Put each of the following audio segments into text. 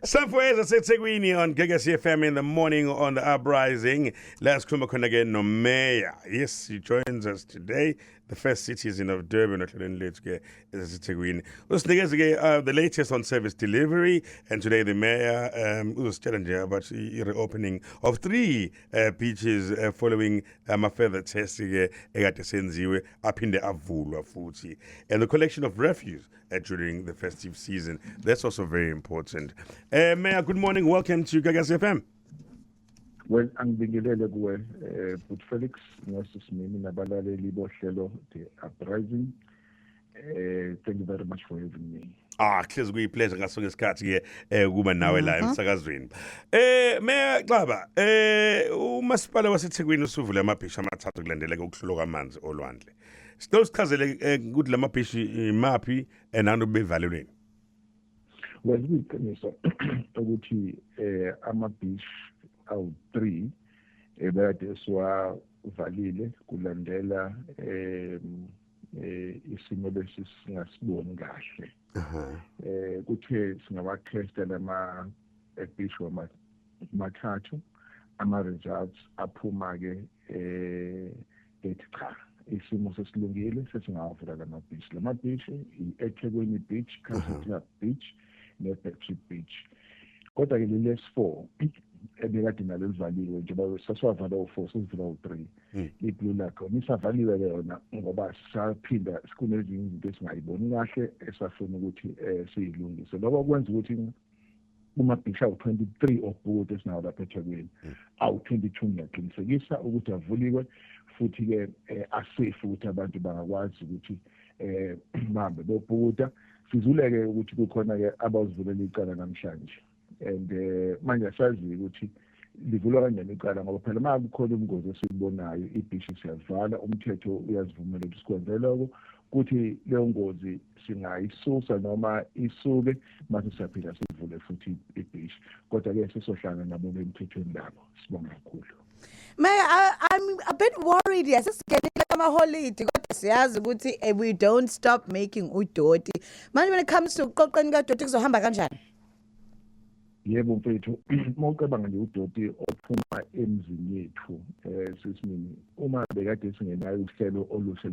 Safweza seThekwini on Gagasi FM in the morning on the uprising. Let's come khona ke no mayor. Yes, he joins us today. The first citizen of Durban ohlelweni lethu ke eseThekwini. Usinikeze ke uh, the latest on service delivery and today the mayor um uzositshela nje about the reopening of three uh, beaches uh, following ama um, further tests ke ekade senziwe aphinde avulwa futhi and the collection of refuse uh, during the festive season. That's also very important. Uh, Mayor, good morning. Welcome to Gagas FM. well angibingelele kuwe eh but Felix ngosisimini nabalaleli bohlelo the uprising eh thank you very much for having me Ah, hlezi kuyipleasure ngaso ngesikhathi ke eh kuba nawe la Mhm. emsakazweni. Eh Mayor Xaba, eh umasipala waseThekwini usuvule amabhisha amathathu kulandeleka ukuhlulwa kwamanzi olwandle. Sicela usichazele eh, ukuthi lama beach imaphi and abantu bevalelweni. Well iqiniso ukuthi eh ama beach awu 3 ebekade eh, siwavalile kulandela eh isimo lesi singasiboni kahle. Eh kuthe singawakhesta lama beach wama mathathu ama results aphuma ke eh ethi cha isimo sesilungile sesingawavula la mabhishi la mabhishi i-ethekwini beach country club beach ne-battery beach kodwa ke leli s4 ebekade nalo livaliwe njengoba sasiwavala u-four sesivula u-three hmm. i-blue lakhona isavaliwe ke yona ngoba saphinda kunezinye izinto esingayiboni kahle esafuna ukuthi um siyilungise lokho kwenza ukuthi kumabhishi awu-23 obhuti esinawo lapha ethekwini hmm. awu-22 ngiyaqinisekisa ukuthi avuliwe futhi-ke um eh, asafe ukuthi abantu bangakwazi ukuthi um bahambe bobhukuda sizuleke ukuthi kukhona-ke abawuzivulela icala namhlanje and um manje asazi-ke ukuthi um livulwa kanjani icala ngoba phela uma kukhona ubungozi esibubonayo ibhishi siyalivala umthetho uyazivumela ukuthi sikwenze loko kuthi leyo ngozi singayisusa noma isuke mase siyaphila sivule futhi ibhishi kodwa-ke sesohlanga nabo bemthethweni labo sibonga kakhulu May I, I'm a bit worried yes sigenile amaholidi kodwa siyazi ukuthi eh, we don't stop making udoti manje when it comes to uqoqeni kadoti kuzohamba kanjani Yebo mfethu, uma ucabanga nje udoti ophuma emzini yethu eh sisimini uma bekade singenayo uhlelo oluhle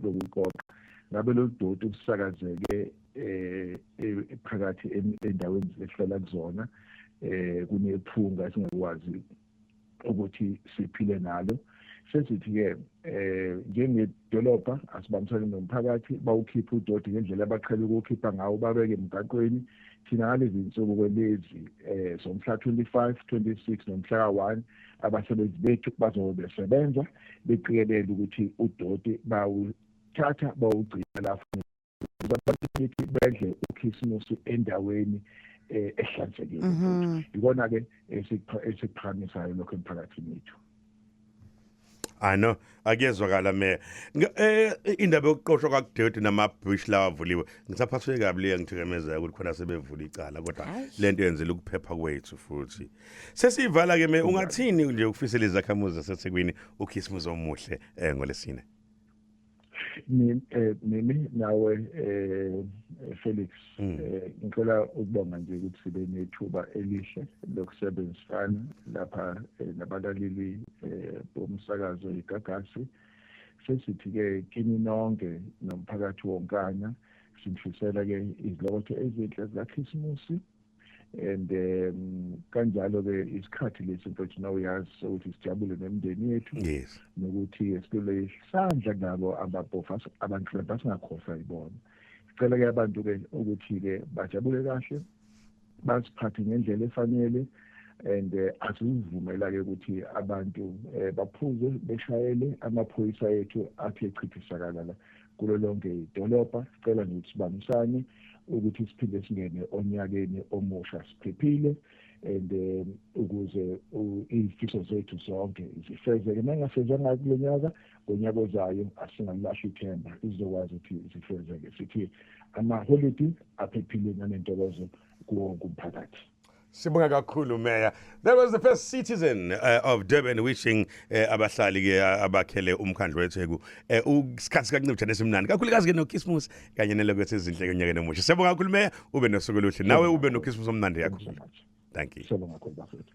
lokuqoqa ngabe lolu doti usakazeke eh e-, phakathi endaweni esihlala kuzona eh kunephunga singakwazi ukuthi siphile nalo sesithi-ke eh njengedolobha asibambisane nomphakathi bawukhiphe udoti ngendlela abaqhele ukuwukhipha ngawo babeke emgaqweni thina ngalezi nsuku kwelezi eh somhla 25 26 nomhla ka-1 abasebenzi bethu bazobe besebenza beqikelele ukuthi udoti bawuthatha bawugcina la ukuthi bedle ukhisimusi endaweni eh, ehlanzekile mhm. yikona ke esiphakamisayo lokho emphakathini wethu I know akuyezwakala me eh, indaba yokuqoshwa kwakudoti nama bush lawa avuliwe ngisaphaswe kabi le ngithikemezeka ukuthi khona sebevula icala kodwa lento yenzela ukuphepha kwethu futhi sesiyivala ke me ungathini nje ukufisela izakhamuzi zaseThekwini uKhisimuzi omuhle eh ngolesine Eh, mimi nawe eh, eh Felix mm. eh, ngicela ukubonga nje ukuthi sibe nethuba elihle lokusebenzisana lapha eh, nabalaleli bomsakazo igagasi sesithi ke kini nonke nomphakathi wonkana sinifisela ke izilokotho ezinhle zikaKhisimusi and um kanjalo ke isikhathi lesi mfethu na uyazi ukuthi sijabule nemndeni yethu yes nokuthi esibele isandla nabo ababhofa abantu labasingakhohlwa ibona sicela ke abantu ke ukuthi ke bajabule kahle basiphathe ngendlela efanele and eh, asizivumela ke ukuthi abantu eh, baphuze beshayele amaphoyisa ethu athi echithisakala la kulo lonke idolobha. Sicela nje ukuthi sibambisane ukuthi siphinde singene onyakeni omusha siphephile and eh, ukuze izifiso zethu zonke zifezeke nangasezanga kulo nyaka ngonyaka ozayo asingalilahla ithemba izokwazi ukuthi zifezeke sithi amaholidi aphephile nanentokozo kuwo kumphakathi Sibonga kakhulu Mayor. That was the first citizen uh, of Durban wishing uh, abahlali ke uh, abakhele umkhandlu weTheku uh, usikhathi kancipha nesimnandi. Kakhulukazi ke noKismus kanye nelokho sezinhle konyaka nomusha. Sibonga kakhulu Mayor, ube nosuku oluhle. Nawe ube noKismus omnandi yakho. Thank you. Sibonga kakhulu bafethu.